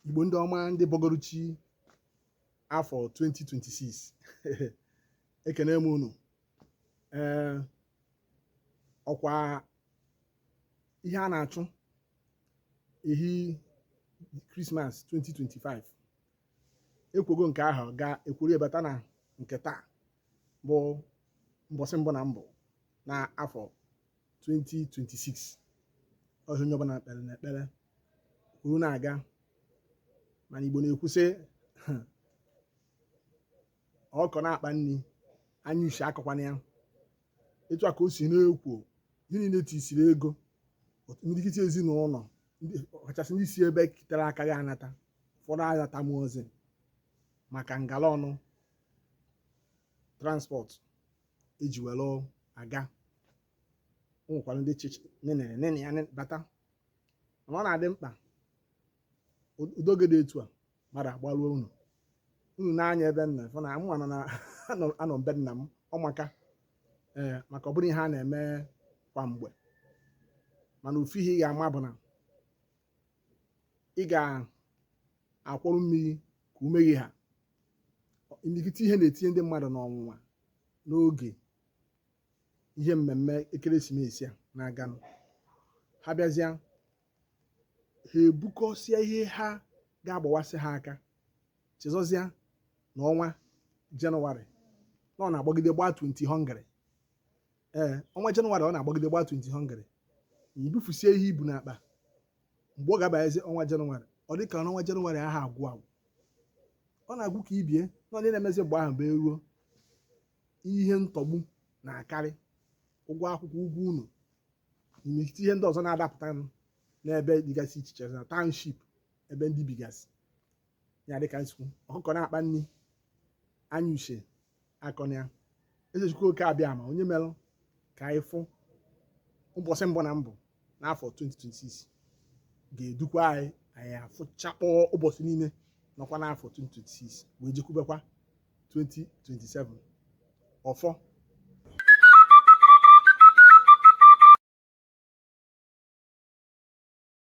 igbo ndị ọma ndị bọgọrụ chi afọ 2026 ekene m unu ee ọkwa ihe a na-achụ ehi krismas 2025 ekwogo nke ahụ gaa ekworo bata na nke taa bụ mbọsị mbụ na mbụ na afọ 2026 ọ ihe onye ọbụla kpere na ekpere kwuru na-aga mana Igbo na-ekwu sị ọkụkọ na-akpa nri anya uche akọkwana ya etu a ka o si na-ekwo ihe niile tisiri ego imirikiti ezinụlọ ọkachasị ndị si ebe kitere aka ya anata ụfọdụ anatanwurọzi maka ngala ọnụ transport eji were aga o nwekwara ndị chịchị nene ya bata mana ọ na-adị mkpa ụdị oge dị etu a mmadụ agbaruo ụnọ unu na-anya ebe nna fụ na mụ na anọ- anọ be nna m ọ maka ee maka ọ bụrọ ihe a na-eme kwa mgbe mana ofu ihe ị ga-ama bụ na ị ga-akwọrọ mmiri ka ume gị ha imirikiti ihe na-etinye ndị mmadụ n'ọnwụnwa n'oge ihe mmemme ekeresimesi a na-aganụ ha bịazịa ha ebukọsịa ihe ha ga-agbawasị ha aka chezọzịa na ọnwa jenụwarị na ọ na-agbagide gbaa 20 hungry ee ọnwa jenụwarị ọ na-agbagide gbaa 20 hungry i bufusie ihe i bu n'akpa mgbe ọ ga-abanyezie ọnwa jenụwarị ọ dị ka ọnwa jenụwarị aha agwụ agwụ ọ na-agwụ ka ibe ya mana ihe na-emezi mgbe ahụ bụ eruo ihe ntọgbu na-akarị ụgwọ akwụkwọ ụgwọ ụnọ imirikiti ihe ndị ọzọ na-adapụtanụ n'ebe dịgasị iche iche na township ebe ndị bigasị ya dịka m si kwuo ọkụkọ na-akpa nri anya uche akọna ya eze chukwu oke abịama onye merụ ka anyị fụ ụbọsị mbụ na mbụ n'afọ 2026 ga-edukwa anyị anyị afụchakpọọ ụbọsị niile nọkwa n'afọ 2026 wee jekwubekwa 2027 ọfọ